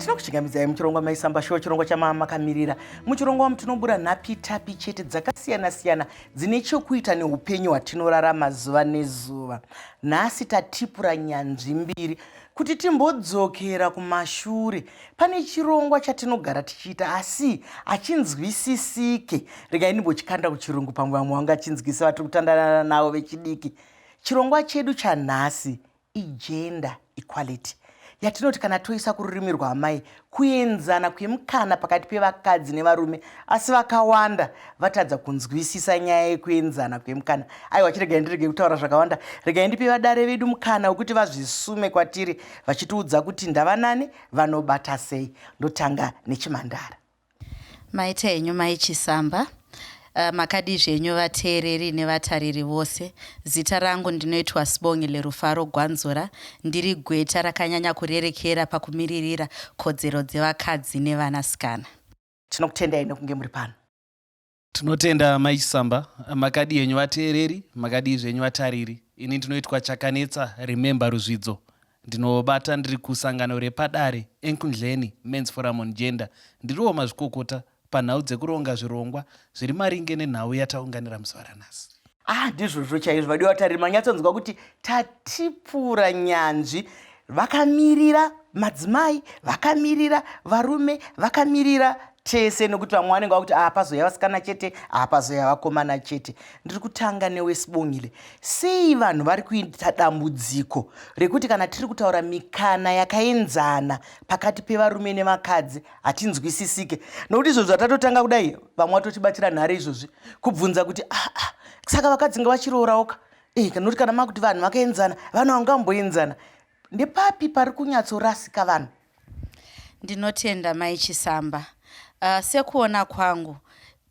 tinokuchingamidzai muchirongwa maisamba show chirongwa chamama makamirira muchirongwa wamu tinobura nhapi tapi chete dzakasiyana siyana dzine chokuita neupenyu hwatinorarama zuva nezuva nhasi tatipura nyanzvi mbiri kuti timbodzokera kumashure Pane chirongwa chatinogara tichiita asi hachinzwisisike. Regai ndimbochikanda kuchirungu pamwe vamwe vangachinzwisisa vatiri kutandanana navo vechidiki. Chirongwa chedu chanhasi igender equality yatinoti kana toisa kururimi rwaamai kuenzana kwemukana pakati pevakadzi nevarume asi vakawanda vatadza kunzwisisa nyaya yekuenzana kwemukana aiwa chiregai ndirege kutaura zvakawanda regai ndipe vadare vedu mukana wekuti vazvisume kwatiri vachitiudza kuti ndavanani vanobata sei ndotanga nechimandara maita henyu mai chisamba Eh, makadii zvenyu vateereri nevatariri vose zita rangu ndinoitwa sibongi lerufaro gwanzura ndiri gweta rakanyanya kurerekera pakumiririra kodzero dzevakadzi nevanasikana tinokutendai nekunge muri pano Tinotenda Mai Chisamba, makadii henyu vateereri, makadii zvenyu vatariri. Ini ndinoitwa Chakanetsa Remember Ruzvidzo. Ndinobata ndiri kusangano repadare Enkundleni Men's Forum on Gender. Ndiriwo mazvikokota panhau dzekuronga zvirongwa zviri maringe nenhau yataunganira musi waranhasi. ah ndizvozvo chaizvo vadiwa vatariri manyatsonzwa kuti tatipura nyanzvi vakamirira madzimai vakamirira varume vakamirira tese nokuti vamwe vanenge vakuti apazoya ah, vasikana chete apazoya ah, vakomana chete ndiri kutanga newesibongile sei vanhu vari kuita dambudziko rekuti kana tiri kutaura mikana yakaenzana pakati pevarume nevakadzi hatinzwisisike nokuti izvozvi atatotanga kudai vamwe vatotibatira nhare izvozvi kubvunza kuti aa ah, ah, saka vakadzi nga vachirooraoka eh, nokuti kana makuti vanhu vakaenzana vanhu vangamboenzana ndepapi pari kunyatsorasika vanhu ndinotenda mai chisamba uh, sekuona kwangu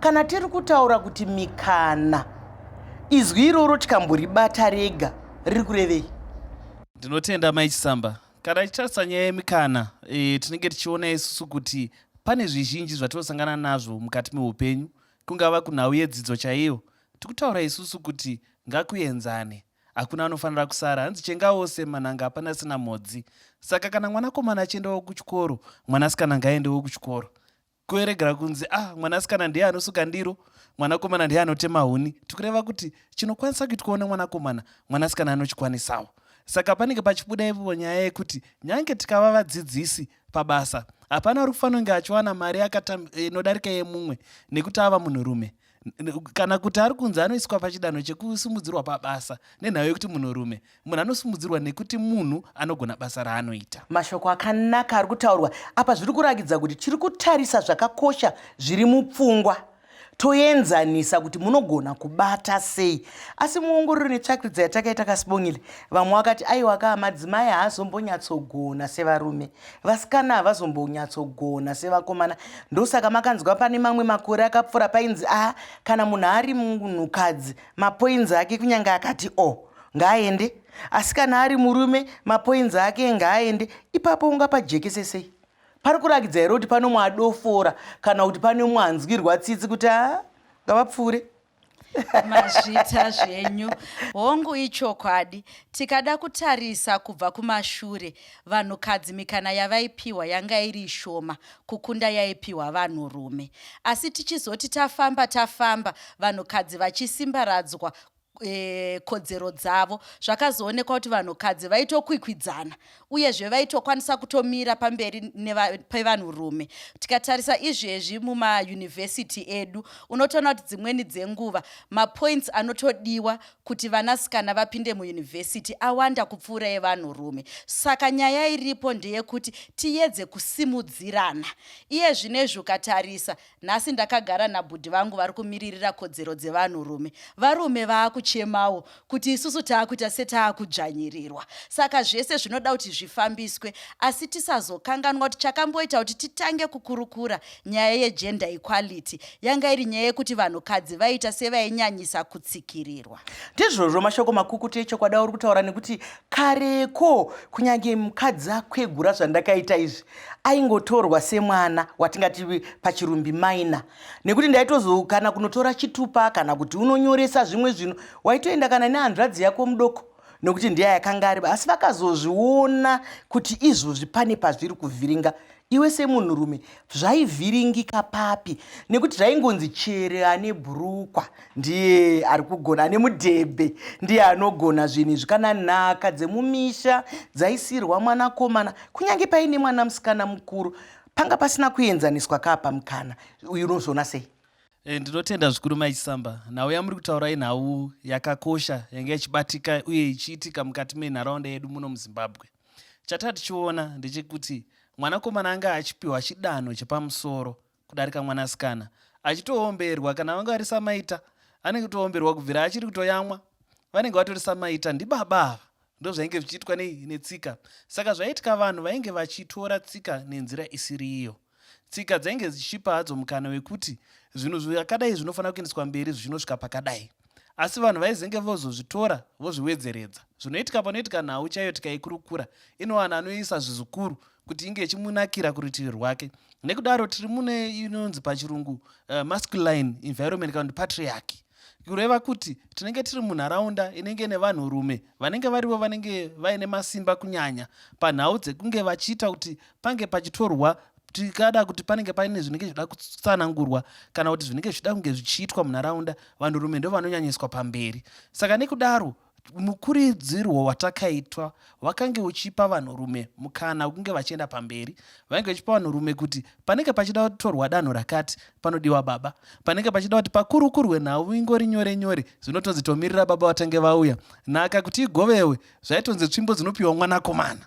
Kana tiri kutaura kuti mikana, izwi iroro tikamboribata rega riri kurevei? Ndinotenda Mai Chisamba. Kana tichitarisa nyaya yemikana, e, tinenge tichiona isusu kuti pane zvizhinji zvatinosangana nazvo mukati meupenyu, kungava kunhau yedzidzo chaiyo. Tikutaura isusu kuti ngakuenzane hakuna anofanira kusara hanzi chenga wose mananga hapana sina mhodzi saka kana mwanakomana achiendawo kuchikoro mwanasikana ngaendewo kuchikoro kueregera kunzi ah mwanasikana ndiye anosuka ndiro mwanakomana ndiye anotema huni tikureva kuti chinokwanisa kuitwawo nemwanakomana mwanasikana anochikwanisawo saka panenge pachibuda ivo nyaya yekuti nyange tikava vadzidzisi pabasa hapana uri kufanonge achiwana mari inodarika yemumwe nekuti ava munhurume kana kuti ari kunzi anoiswa pachidanho chekusumudzirwa pabasa nenhau yekuti munhurume munhu anosumudzirwa nekuti munhu anogona basa raanoita mashoko akanaka ari kutaurwa apa zviri kurakidza kuti tiri kutarisa zvakakosha zviri mupfungwa toenzanisa kuti munogona kubata sei asi muongororo netsvakiridza yatakaita kasibongile vamwe vakati aiwa kaa madzimai haazombonyatsogona sevarume Vasikana havazombonyatsogona sevakomana ndosaka makanzwa pane mamwe makore akapfuura painzi a ah, kana munhu ari munhukadzi mapoinzi ake kunyange akati o oh, ngaaende asi kana ari murume mapoinzi ake ngaaende ipapo ungapajekese sei pari kurakidza here kuti pane umwe adofora kana kuti pane umwe anzwirwa tsitsi kuti a ah, ngavapfuure mazvita zvenyu hongu ichokwadi tikada kutarisa kubva kumashure vanhukadzi mikana yavaipiwa yanga iri shoma kukunda yaipiwa vanhurume asi tichizoti tafamba tafamba vanhukadzi vachisimbaradzwa e, kodzero dzavo zvakazoonekwa kuti vanhukadzi vaitokwikwidzana uyezve vaitokwanisa kutomira pamberi pevanhurume tikatarisa izvezvi mumayunivhesiti edu unotoona kuti dzimweni dzenguva mapoints anotodiwa kuti vanasikana vapinde muyunivhesiti awanda kupfuura evanhurume saka nyaya iripo ndeyekuti tiyedze kusimudzirana iye zvinezvi ukatarisa Nhasi ndakagara nabhudhi vangu vari kumiririra kodzero dzevanhurume. Varume vaakuchemawo kuti isusu taakuita setaakudzvanyirirwa. Saka zvese zvinoda kuti zvifambiswe asi tisazokanganwa kuti chakamboita kuti titange kukurukura nyaya yegender equality yanga iri nyaya yekuti vanhukadzi vaiita sevainyanyisa kutsikirirwa. Ndizvozvo mashoko makukutu echokwadi auri kutaura nekuti kareko kunyange mukadzi akwegura zvandakaita izvi aingotorwa semwana watingati pachirumbi minor nekuti ndaitozokana kunotora chitupa kana kuti unonyoresa zvimwe zvinhu waitoenda kana nehanzvadzi yako mudoko nekuti ndiya yakanga ari asi vakazozviona kuti izvozvi pane pazviri kuvhiringa iwe semunhurume zvaivhiringika papi nekuti zvaingonzi chere ane bhurukwa ndiye ari kugona ane mudhebhe ndiye anogona zvinhu izvi kana nhaka dzemumisha dzaisirwa mwanakomana kunyange paine mwana musikana mukuru panga pasina kuenzaniswa kaa pamukana uyu unozoona sei e, ndinotenda zvikuru maichisamba nhau yamuri kutaura inhau yakakosha yange ichibatika uye ichiitika mukati menharaunda yedu muno muzimbabwe chatatichiona ndechekuti mwanakomana anga achipiwa chidanho chepamusoro kudarika mwanasikana achitoomberwa kana vanga vari samaita anenge kutoomberwa kubvira achiri kutoyamwa vanenge vatori samaita ndibaba ava ndozvainge zvichiitwa netsika saka zvaiitika vanhu vainge vachitora tsika nenzira isiri iyo tsika dzainge dzichipa hadzo mukana wekuti zvinhu zvakadai zvinofanira kuendeswa mberi zvichinosvika pakadai asi vanhu vaizenge vozozvitora vozviwedzeredza zvinoitika panoitika nhau chaiyo tikaikurukura inowana anoisa zvizukuru kuti inge ichimunakira kurutivi rwake nekudaro tiri mune inonzi pachirungu uh, masculine environment kana kuti patriarchy kureva kuti tinenge tiri munharaunda inenge nevanhurume vanenge varivo vanenge vaine masimba kunyanya panhau dzekunge vachiita kuti pange pachitorwa tikada kuti panenge paine zvinenge zvichida kutsanangurwa kana kuti zvinenge zvichida kunge zvichiitwa munharaunda vanhurume ndo vanonyanyiswa pamberi saka nekudaro mukuridzirwo watakaitwa wakange uchipa vanhurume mukana wekunge vachienda pamberi vainge vachipa vanhurume kuti panenge pachida kutorwa danho rakati panodiwa baba panenge pachida kuti pakurukurwe nhau ingori nyore nyore zvinotonzi tomirira baba vatange vauya nhaka kuti igovewe zvaitonzi tsvimbo dzinopiwa mwanakomana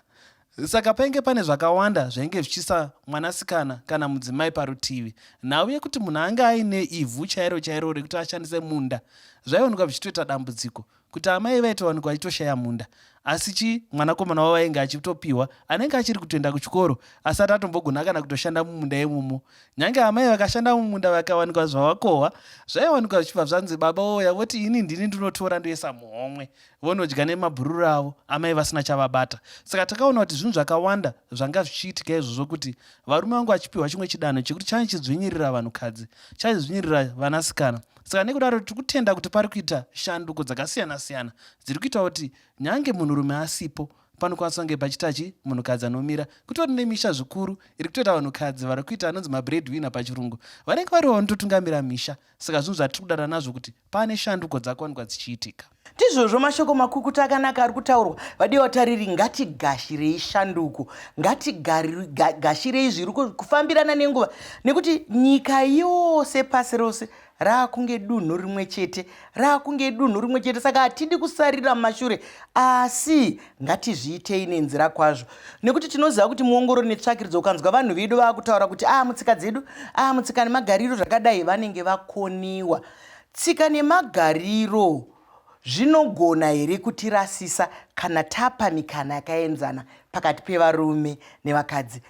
Saka painge pane zvakawanda zvainge zvichisa mwanasikana kana mudzimai parutivi. Nhau yekuti munhu ange aine ivhu chairo chairo rekuti ashandise munda zvaionekwa zvichitoita dambudziko kuti amai vaitowanikwa vachitoshaya munda asi chi mwanakomana wavo ainge achitopiwa anenge achiri kutoenda kuchikoro asati atombogona kana kutoshanda mumunda imomo nyange amai vakashanda mumunda vakawanikwa zvavakohwa zvaiwanikwa zvichibva zvanzi baba oya voti ini ndini ndinotora ndoisa muhomwe vonodya nemabhururu avo amai vasina chavabata saka takaona kuti zvinhu zvakawanda zvanga zvichiitika izvozvo kuti varume vangu vachipiwa chimwe chidanho chekuti chane chidzvinyirira vanhukadzi chaidzvinyirira vanasikana saka nekudaro tiri kutenda kuti pari kuita shanduko dzakasiyana-siyana dziri kuita kuti nyange munhurume asipo panokwanisa kunge pachitachi munhukadzi anomira kutori nemisha zvikuru iri kutoita vanhukadzi vari kuita anonzi mabread winner pachirungu vanenge variwo vanototungamira misha saka zvinhu zvatiri kudada nazvo kuti Pane shanduko dzakuwanikwa dzichiitika. Ndizvozvo mashoko makukuta akanaka ari kutaurwa vadiwa vatariri ngatigashirei shanduko ngatigashirei zviri kufambirana nenguva nekuti nyika yose pasi rose raakunge dunhu rimwe chete raakunge dunhu rimwe chete saka hatidi kusarira mumashure asi ngatizviitei nenzira kwazvo nekuti tinoziva kuti muongorori netsvakiridzo ukanzwa vanhu vedu vakutaura kuti a ah, mutsika dzedu a ah, mutsika nemagariro zvakadai vanenge vakoniwa tsika nemagariro zvinogona here kutirasisa kana tapa mikana yakaenzana pakati pevarume nevakadzi